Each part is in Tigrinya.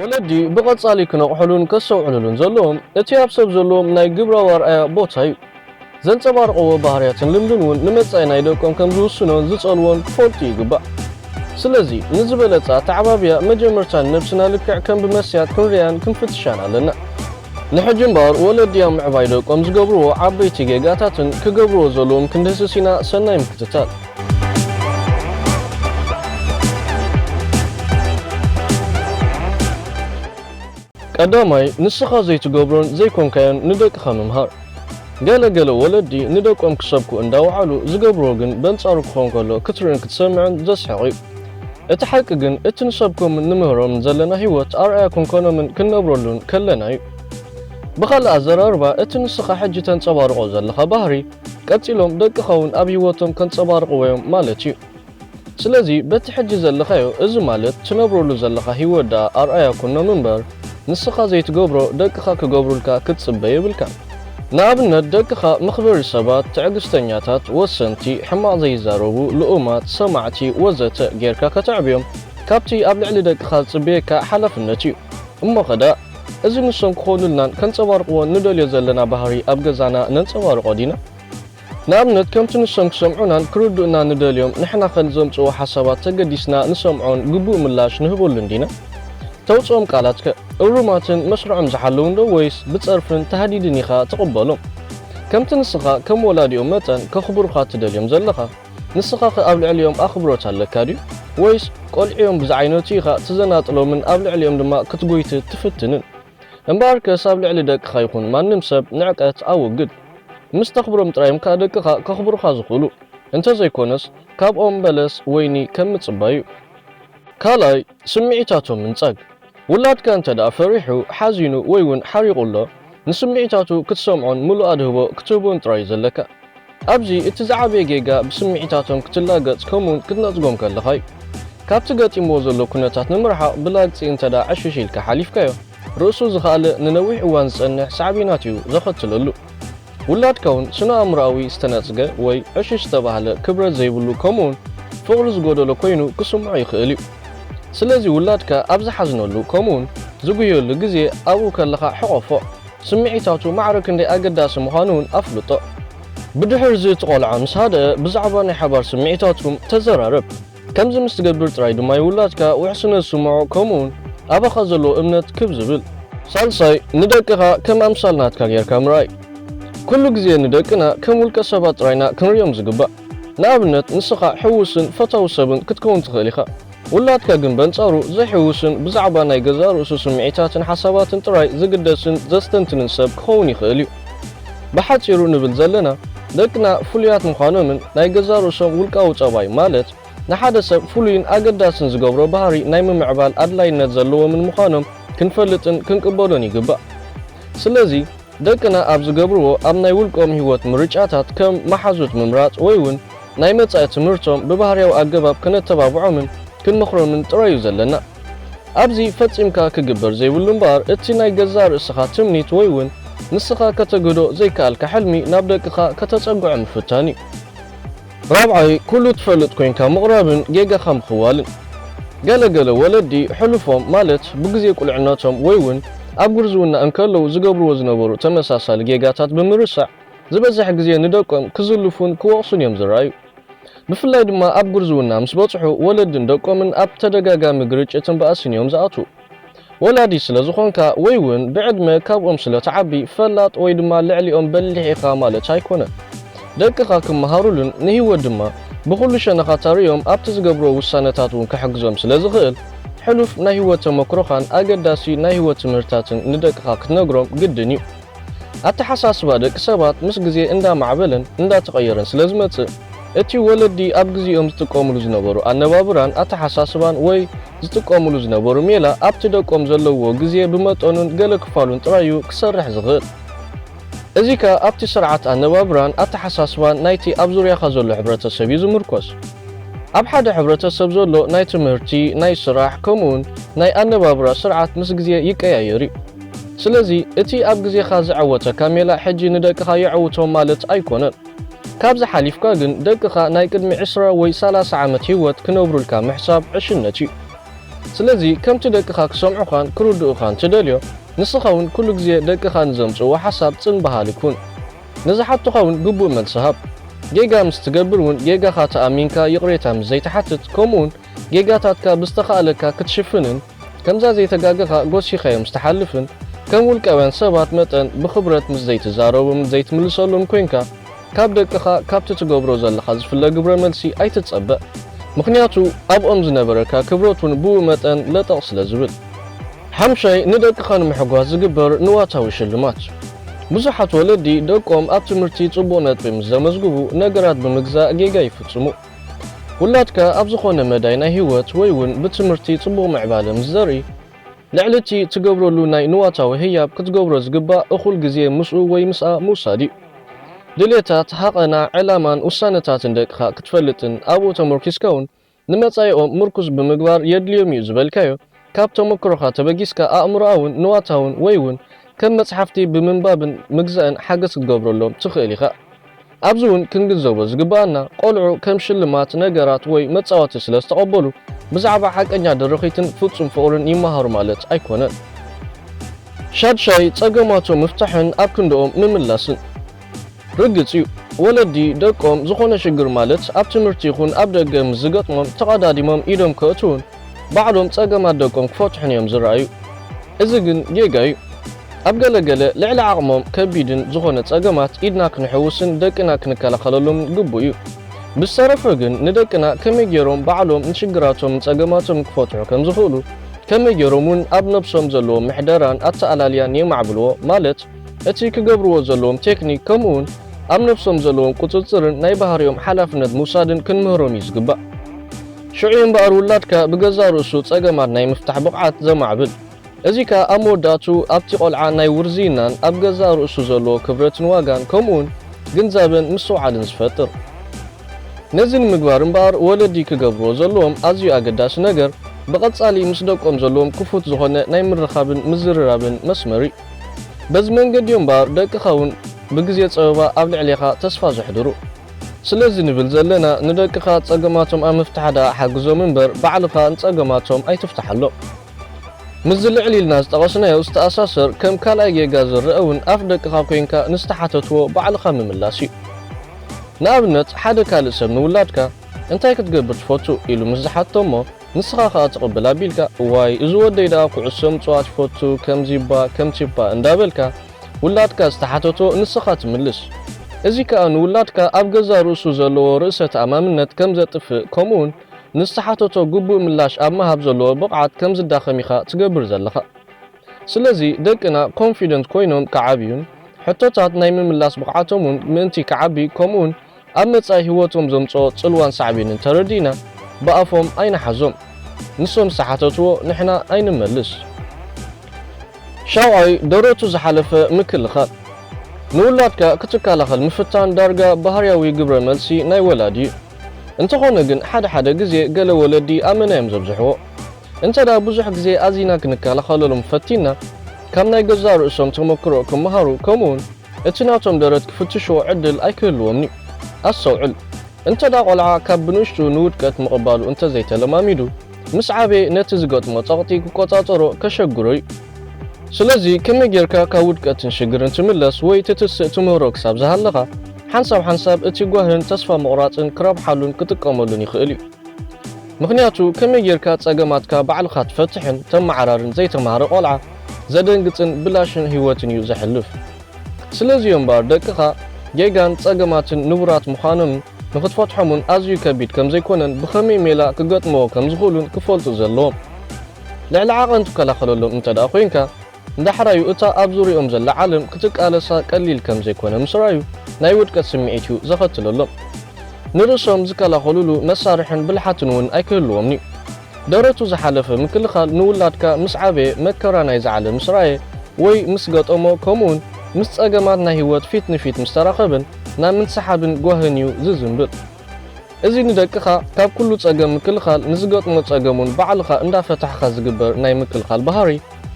ወለዲ ብቐጻሊ ክነቕሑሉን ከስተውዕሉሉን ዘለዎም፣ እቲ ኣብ ሰብ ዘለዎም ናይ ግብራዊ ኣርኣያ ቦታ እዩ። ዘንጸባርቕዎ ባህርያትን ልምድን እውን ንመጻኢ ናይ ደቆም ከም ዝውስኖን ዝጸልዎን ክፈልጡ ይግባእ። ስለዚ፣ ንዝበለጸ ኣተዓባብያ፣ መጀመርታ ንነብስና ልክዕ ከም ብመስትያት ክንርእያን ክንፍትሻን ኣለና። ንሕጂ እምበኣር፣ ወለዲ ኣብ ምዕባይ ደቆም ዝገብርዎ ዓበይቲ ጌጋታትን ክገብርዎ ዘለዎም ክንድህስስ ኢና። ሰናይ ምክትታል። ቀዳማይ ንስኻ ዘይትገብሮን ዘይኮንካዮን ንደቅኻ ምምሃር። ገለ ገለ ወለዲ ንደቆም ክሰብኩ እንዳወዓሉ ዝገብርዎ ግን በንጻሩ ክኾን ከሎ ክትርእን ክትሰምዕን ዘስሕቕ እዩ። እቲ ሓቂ ግን እቲ ንሰብኮምን ንምህሮምን ዘለና ህይወት ኣርኣያ ክንኮኖምን ክንነብረሉን ከለና እዩ። ብኻልእ ኣዘራርባ እቲ ንስኻ ሕጂ ተንጸባርቖ ዘለኻ ባህሪ ቀጺሎም ደቅኻውን ኣብ ህይወቶም ከንጸባርቕዎ'ዮም ማለት'ዩ። ስለዚ በቲ ሕጂ ዘለኻዮ፣ እዚ ማለት ትነብረሉ ዘለኻ ህይወት ደኣ ኣርኣያ ኩኖም እምበር፣ ንስኻ ዘይትገብሮ ደቅኻ ክገብሩልካ ክትጽበ የብልካን። ንኣብነት ደቅኻ መኽበሪ ሰባት፣ ትዕግስተኛታት፣ ወሰንቲ፣ ሕማቕ ዘይዛረቡ፣ ልኡማት፣ ሰማዕቲ፣ ወዘተ ጌርካ ከተዕብዮም ካብቲ ኣብ ልዕሊ ደቅኻ ዝጽበየካ ሓላፍነት'ዩ። እሞኸ ደኣ። እዚ ንሶም ክኾኑልናን ከንጸባርቕዎን ንደልዮ ዘለና ባህሪ ኣብ ገዛና ነንጸባርቖ ዲና? ንኣብነት ከምቲ ንሶም ክሰምዑናን ክርድኡናን ንደልዮም ንሕናኸ ንዘምጽእዎ ሓሳባት ተገዲስና ንሰምዖን ግቡእ ምላሽ ንህበሉን ዲና? ተውጽኦም ቃላትከ እሩማትን መስርዖም ዝሓለዉንዶ ወይስ ብጸርፍን ታህዲድን ኢኻ ትቕበሎም? ከምቲ ንስኻ ከም ወላዲኦም መጠን ከኽብሩኻ ትደልዮም ዘለኻ? ንስኻኸ ኣብ ልዕሊኦም ኣኽብሮት ኣለካ ድዩ? ወይስ ቈልዑ'ዮም ብዝዓይነቱ ኢኻ ትዘናጥሎምን ኣብ ልዕሊኦም ድማ ክትጐይትት ትፍትንን? እምበኣርከስ ኣብ ልዕሊ ደቅኻ ይኹን ማንም ሰብ ንዕቀት ኣወግድ። ምስ ተኽብሮም ጥራይ'ዮም ከኣ ደቅኻ ከኽብሩኻ ዝኽእሉ፣ እንተ ዘይኰነስ ካብ ኦም በለስ ወይኒ ከም ምጽባይ'ዩ። ካልኣይ፣ ስምዒታቶም ምንጻግ። ውላድካ እንተ ደኣ ፈሪሑ፣ ሓዚኑ ወይ ውን ሓሪቑ ኣሎ፣ ንስምዒታቱ ክትሰምዖን ምሉእ ኣድህቦ ክትህቦን ጥራይ እዩ ዘለካ። ኣብዚ እቲ ዝዓበየ ጌጋ ብስምዒታቶም ክትላገጽ ከምኡውን ክትነጽጎም ከለኻ እዩ። ካብቲ ገጢምዎ ዘሎ ኩነታት ንምርሓቕ ብላግጺ እንተ ደኣ ዕሽሽ ኢልካ ሓሊፍካዮ፣ ርእሱ ዝኸኣለ ንነዊሕ እዋን ዝጸንሕ ሳዕቤናት እዩ ዘኸትለሉ። ውላድ ከውን ስነ-ኣእምሮኣዊ ዝተነጽገ ወይ ዕሽሽ ዝተባህለ ክብረት ዘይብሉ ከምኡውን ፍቕሪ ዝጎደሎ ኮይኑ ክስምዖ ይኽእል እዩ። ስለዚ ውላድካ ኣብ ዝሓዝነሉ ከምኡውን ዝጉህየሉ ግዜ ኣብኡ ከለኻ ሕቖፎ። ስምዒታቱ ማዕረ ክንደይ ኣገዳሲ ምዃኑ እውን ኣፍልጦ። ብድሕርዚ እቲ ቆልዓ ምስ ሃደኣ ብዛዕባ ናይ ሓባር ስምዒታትኩም ተዘራረብ። ከምዚ ምስ ትገብር ጥራይ ድማ ዩ ውላድካ ውሕስነት ዝስምዖ ከምኡ ውን ኣባኻ ዘለዎ እምነት ክብ ዝብል። ሳልሳይ፣ ንደቅኻ ከም ኣምሳል ናትካ ጌርካ ምርኣይ። ኩሉ ግዜ ንደቅና ከም ውልቀ ሰባት ጥራይ ኢና ክንርእዮም ዝግባእ። ንኣብነት ንስኻ ሕውስን ፈታዊ ሰብን ክትከውን ትኽእል ኢኻ። ውላድካ ግን በንጻሩ ዘይሕውስን ብዛዕባ ናይ ገዛእ ርእሱ ስምዒታትን ሓሳባትን ጥራይ ዝግደስን ዘስተንትንን ሰብ ክኸውን ይኽእል ዩ። ብሓጺሩ ንብል ዘለና ደቅና ፍሉያት ምዃኖምን ናይ ገዛእ ርእሶም ውልቃዊ ጸባይ ማለት ንሓደ ሰብ ፍሉይን ኣገዳስን ዝገብሮ ባህሪ ናይ ምምዕባል ኣድላይነት ዘለዎምን ምዃኖም ክንፈልጥን ክንቅበሎን ይግባእ። ስለዚ ደቅና ኣብ ዝገብርዎ ኣብ ናይ ውልቆም ህይወት ምርጫታት ከም መሓዙት ምምራጽ ወይ'ውን ናይ መጻኢ ትምህርቶም ብባህርያዊ ኣገባብ ከነተባብዖምን ክንመኽሮምን ጥራይ እዩ ዘለና። ኣብዚ ፈጺምካ ክግበር ዘይብሉ እምበኣር እቲ ናይ ገዛእ ርእስኻ ትምኒት ወይ እውን ንስኻ ከተግህዶ ዘይከኣልካ ሕልሚ ናብ ደቅኻ ከተጸግዖ ምፍታን እዩ። ራብዓይ፣ ኩሉ ትፈልጥ ኮይንካ ምቕራብን ጌጋኻ ምኽዋልን። ገለ ገለ ወለዲ ሕሉፎም ማለት ብግዜ ቁልዕነቶም ወይ እውን ኣብ ጉርዝውና እንከለዉ ዝገብርዎ ዝነበሩ ተመሳሳሊ ጌጋታት ብምርሳዕ፣ ዝበዝሕ ግዜ ንደቆም ክዝልፉን ክወቕሱን እዮም ዝረኣዩ። ብፍላይ ድማ ኣብ ጉርዝውና ምስ በጽሑ ወለድን ደቆምን ኣብ ተደጋጋሚ ግርጭትን ባእስን እዮም ዝኣትዉ። ወላዲ ስለ ዝኾንካ ወይ'ውን ብዕድመ ካብኦም ስለ ትዓቢ ፈላጥ ወይ ድማ ልዕሊኦም በሊሕ ኢኻ ማለት ኣይኮነን። ደቅኻ ክመሃሩሉን ንህይወት ድማ ብኹሉ ሸነኻታ ርእዮም ኣብቲ ዝገብርዎ ውሳነታት እውን ክሕግዞም ስለ ዝኽእል ሕሉፍ ናይ ህይወት ተመክሮኻን ኣገዳሲ ናይ ህይወት ትምህርትታትን ንደቅኻ ክትነግሮም ግድን እዩ። ኣተሓሳስባ ደቂ ሰባት ምስ ግዜ እንዳማዕበለን እንዳተቐየረን ስለ ዝመጽእ፣ እቲ ወለዲ ኣብ ግዜኦም ዝጥቀምሉ ዝነበሩ ኣነባብራን ኣተሓሳስባን ወይ ዝጥቀምሉ ዝነበሩ ሜላ ኣብቲ ደቆም ዘለውዎ ግዜ ብመጠኑን ገለ ክፋሉን ጥራይ'ዩ ክሰርሕ ዝኽእል። እዚ ከኣ ኣብቲ ስርዓት ኣነባብራን ኣተሓሳስባን ናይቲ ኣብ ዙርያኻ ዘሎ ሕብረተሰብ'ዩ ዝምርኮስ። ኣብ ሓደ ሕብረተሰብ ዘሎ ናይ ትምህርቲ፣ ናይ ስራሕ ከምኡ'ውን ናይ ኣነባብራ ስርዓት ምስ ግዜ ይቀያየር'ዩ። ስለዚ እቲ ኣብ ግዜኻ ዝዐወተካ ሜላ ሕጂ ንደቅኻ የዐውቶም ማለት ኣይኮነን። ካብዚ ሓሊፍካ ግን ደቅኻ ናይ ቅድሚ ዕስራ ወይ ሰላሳ ዓመት ሂወት ክነብሩልካ ምሕሳብ ዕሽነት እዩ። ስለዚ ከምቲ ደቅኻ ክሰምዑኻን ክርድኡኻን ትደልዮ ንስኻውን ኩሉ ግዜ ደቅኻ ንዘምጽእዎ ሓሳብ ጽን በሃሊ ኩን። ንዝሓቱኻውን ግቡእ መልሲ ሃብ። ጌጋ ምስ ትገብር ውን ጌጋኻ ተኣሚንካ ይቕሬታ ምስ ዘይትሓትት ከምኡውን ጌጋታትካ ብዝተኻእለካ ክትሽፍንን ከምዛ ዘይተጋገኻ ጎሲኻዮም ዝተሓልፍን ከም ውልቃውያን ሰባት መጠን ብኽብረት ምስ ዘይትዛረብምን ዘይትምልሰሉን ኮይንካ ካብ ደቅኻ ካብቲ ትገብሮ ዘለኻ ዝፍለ ግብረ መልሲ ኣይትጸበ ምኽንያቱ ኣብኦም ዝነበረካ ክብረት ውን ብኡ መጠን ለጠቕ ስለ ዝብል። ሓምሻይ ንደቅኻ ንምሕጓስ ዝግበር ንዋታዊ ሽልማት እዩ። ብዙሓት ወለዲ ደቆም ኣብ ትምህርቲ ጽቡቕ ነጥቢ ምስ ዘመዝግቡ ነገራት ብምግዛእ ጌጋ ይፍጽሙ። ውላድካ ኣብ ዝኾነ መዳይ ናይ ህይወት ወይ ውን ብትምህርቲ ጽቡቕ ምዕባለ ምስ ዘርኢ፣ ልዕሊ እቲ ትገብረሉ ናይ ንዋታዊ ህያብ ክትገብሮ ዝግባእ እኹል ግዜ ምስኡ ወይ ምስኣ ምውሳድ እዩ። ድሌታት፣ ሃቐና፣ ዕላማን ውሳነታትን ደቅኻ ክትፈልጥን ኣብኡ ተመርኲስካ ውን ንመጻኢኦም ምርኩስ ብምግባር የድልዮም እዩ ዝበልካዮ ካብ ተመክሮኻ ተበጊስካ ኣእምሮኣውን ንዋታውን ወይ ውን ከም መጽሓፍቲ ብምንባብን ምግዛእን ሓገዝ ክትገብረሎም ትኽእል ኢኻ። ኣብዚ ውን ክንግንዘቦ ዝግበኣና ቆልዑ ከም ሽልማት ነገራት ወይ መጻወቲ ስለ ዝተቐበሉ ብዛዕባ ሓቀኛ ደረኺትን ፍጹም ፍቕርን ይመሃሩ ማለት ኣይኮነን። ሻድሻይ፣ ጸገማቶም ምፍታሕን ኣብ ክንድኦም ምምላስን። ርግጽ'ዩ፣ ወለዲ ደቆም ዝዀነ ሽግር ማለት ኣብ ትምህርቲ ይኹን ኣብ ደገ ምስ ዝገጥሞም ተቐዳዲሞም ኢዶም ከእትዉን ባዕሎም ጸገማት ደቆም ክፈትሑን እዮም ዝረኣዩ። እዚ ግን ጌጋ'ዩ። ኣብ ገለ ገለ ልዕሊ ዓቕሞም ከቢድን ዝዀነ ጸገማት ኢድና ክንሕውስን ደቅና ክንከላኸለሎምን ግቡእ እዩ። ብዝተረፈ ግን ንደቅና ከመይ ገይሮም ባዕሎም ንሽግራቶምን ጸገማቶምን ክፈትሑ ከም ዝኽእሉ፣ ከመይ ገይሮም'ውን ኣብ ነብሶም ዘለዎም ምሕደራን ኣተኣላልያን የማዕብልዎ ማለት፣ እቲ ክገብርዎ ዘለዎም ቴክኒክ ከምኡውን ኣብ ነብሶም ዘለዎም ቁጽጽርን ናይ ባህርዮም ሓላፍነት ምውሳድን ክንምህሮም እዩ ዝግባእ። ሽዑ እዩ እምበኣር ውላድካ ብገዛእ ርእሱ ጸገማት ናይ ምፍታሕ ብቕዓት ዘማዕብል። እዚ ከኣ ኣብ መወዳእትኡ ኣብቲ ቆልዓ ናይ ውርዝይናን ኣብ ገዛእ ርእሱ ዘለዎ ክብረትን ዋጋን ከምኡውን ግንዛበን ምስትውዓልን ዝፈጥር። ነዚ ንምግባር እምበኣር ወለዲ ክገብርዎ ዘለዎም ኣዝዩ ኣገዳሲ ነገር ብቐጻሊ ምስ ደቆም ዘለዎም ክፉት ዝኾነ ናይ ምርኻብን ምዝርራብን መስመር እዩ። በዚ መንገዲ እዮም እምበኣር ደቅኻ እውን ብግዜ ጸበባ ኣብ ልዕሌኻ ተስፋ ዘሕድሩ። ስለዚ ንብል ዘለና ንደቅኻ ጸገማቶም ኣብ ምፍታሕ ደኣ ሓግዞም እምበር ባዕልኻ ንጸገማቶም ኣይትፍታሓሎም። ምስዚ ልዕል ኢልና ዝጠቐስናዮ ዝተኣሳሰር ከም ካልኣይ ጌጋ ዝረኣ እውን ኣፍ ደቅኻ ኮይንካ ንዝተሓተትዎ ባዕልኻ ምምላስ እዩ። ንኣብነት ሓደ ካልእ ሰብ ንውላድካ እንታይ ክትገብር ትፈቱ ኢሉ ምስ ዝሓትቶ እሞ፣ ንስኻ ከኣ ትቕብል ኣቢልካ እዋይ እዚ ወደይ ደኣ ኩዕሶ ምጽዋት ይፈቱ ከምዚ'ባ ከምቲ'ባ እንዳበልካ ውላድካ ዝተሓተቶ ንስኻ ትምልስ እዚ ከኣ ንውላድካ ኣብ ገዛእ ርእሱ ዘለዎ ርእሰ ተኣማምነት ከም ዘጥፍእ ከምኡ'ውን ንዝተሓተቶ ግቡእ ምላሽ ኣብ ምሃብ ዘለዎ ብቕዓት ከም ዝዳኸም ኢኻ ትገብር ዘለኻ ስለዚ ደቅና ኮንፊደንት ኮይኖም ክዓብዩን ሕቶታት ናይ ምምላስ ብቕዓቶም'ውን ምእንቲ ክዓቢ ከምኡ'ውን ኣብ መጻኢ ህይወቶም ዘምጽኦ ጽልዋን ሳዕቤንን ተረዲእና ብኣፎም ኣይንሓዞም ንሶም ዝተሓተትዎ ንሕና ኣይንመልስ። ሻውዓይ ደረቱ ዝሓለፈ ምክልኻል። ንውላድካ ክትከላኸል ምፍታን ዳርጋ ባህርያዊ ግብረ መልሲ ናይ ወላዲ እዩ። እንተኾነ ግን ሓደ ሓደ ግዜ ገለ ወለዲ ኣመና እዮም ዘብዝሕዎ። እንተድኣ ብዙሕ ግዜ ኣዚና ክንከላኸለሎም ፈቲንና ካብ ናይ ገዛእ ርእሶም ተመክሮ ክመሃሩ ከምኡውን እቲ ናቶም ደረት ክፍትሽዎ ዕድል ኣይክህልዎምን'ዩ። ኣስተውዕል፣ እንተድኣ ቈልዓ ካብ ብንእሽቱ ንውድቀት ምቕባሉ እንተ ዘይተለማሚዱ፣ ምስ ዓበየ ነቲ ዝገጥሞ ጸቕጢ ክቈጻጸሮ ከሸግሮ'ዩ። ስለዚ፣ ከመይ ጌርካ ካብ ውድቀትን ሽግርን ትምለስ ወይ ትትስእ ትምህሮ ክሳብ ዝሃለኻ፣ ሓንሳብ ሓንሳብ እቲ ጓህን ተስፋ ምቝራጽን ክረብሓሉን ክጥቀመሉን ይኽእል'ዩ። ምኽንያቱ፣ ከመይ ጌርካ ጸገማትካ ባዕልኻ ትፈትሕን ተመዓራርን ዘይተማህረ ቈልዓ፣ ዘደንግጽን ብላሽን ህይወትን እዩ ዘሕልፍ። ስለዚ እዮም እምበኣር ደቅኻ ጌጋን ጸገማትን ንቡራት ምዃኖምን ንኽትፈትሖም'ውን ኣዝዩ ከቢድ ከም ዘይኮነን ብኸመይ ሜላ ክገጥምዎ ከም ዝኽእሉን ክፈልጡ ዘለዎም። ልዕሊ ዓቐን ትከላኸለሎም እንተድኣ ኮይንካ፣ ንዳሕራዩ እታ ኣብ ዙርያኦም ዘላ ዓለም ክትቃለሳ ቀሊል ከም ዘይኮነ ምስ ረኣዩ ናይ ውድቀት ስምዒት እዩ ዘኸትለሎም። ንርእሶም ዝከላኸሉሉ መሳርሕን ብልሓትን'ውን ኣይክህልዎምን'ዩ። ደረቱ ዝሓለፈ ምክልኻል ንውላድካ ምስ ዓበየ መከራ ናይዛ ዓለም ምስ ረኣየ ወይ ምስ ገጠሞ ከምኡውን ምስ ጸገማት ናይ ህይወት ፊት ንፊት ምስ ተራኸበን ናብ ምንስሓብን ጓህን እዩ ዝዝምብል። እዚ ንደቅኻ ካብ ኩሉ ጸገም ምክልኻል ንዝገጥሞ ጸገም እውን ባዕልኻ እንዳፈታሕኻ ዝግበር ናይ ምክልኻል ባህሪ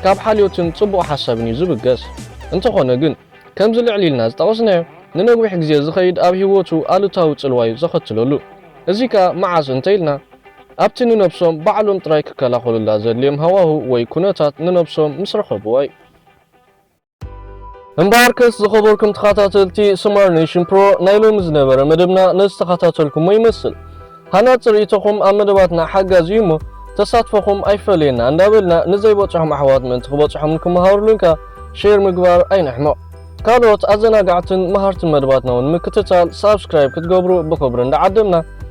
ካብ ሓልዮትን ጽቡቕ ሓሳብን እዩ ዝብገስ። እንተኾነ ግን ከምዚ ልዕል ኢልና ዝጠቐስናዮ ንነዊሕ ግዜ ዝኸይድ ኣብ ህይወቱ ኣሉታዊ ጽልዋ እዩ ዘኸትለሉ። እዚ ከኣ መዓስ እንተኢልና ኣብቲ ንነብሶም ባዕሎም ጥራይ ክከላኸሉላ ዘድልዮም ሃዋህው ወይ ኩነታት ንነብሶም ምስ ረኸብዋ እዩ። እምበኣርከስ ዝኸበርኩም ተኻታተልቲ ስማር ኔሽን ፕሮ ናይ ሎሚ ዝነበረ መደብና ነዚ ዝተኻታተልኩሞ ይመስል። ሃናጺ ርኢቶኹም ኣብ መደባትና ሓጋዚ እዩ እሞ ተሳትፎኹም ኣይፈለየና እንዳበልና ንዘይበጽሖም ኣሕዋት ምእንቲ ክበጽሖም ንክመሃሩሉን ከኣ ሼር ምግባር ኣይንሕመቕ። ካልኦት ኣዘናጋዕትን መሃርትን መደባትና እውን ንምክትታል ሳብስክራይብ ክትገብሩ ብኽብሪ እንዳዓደምና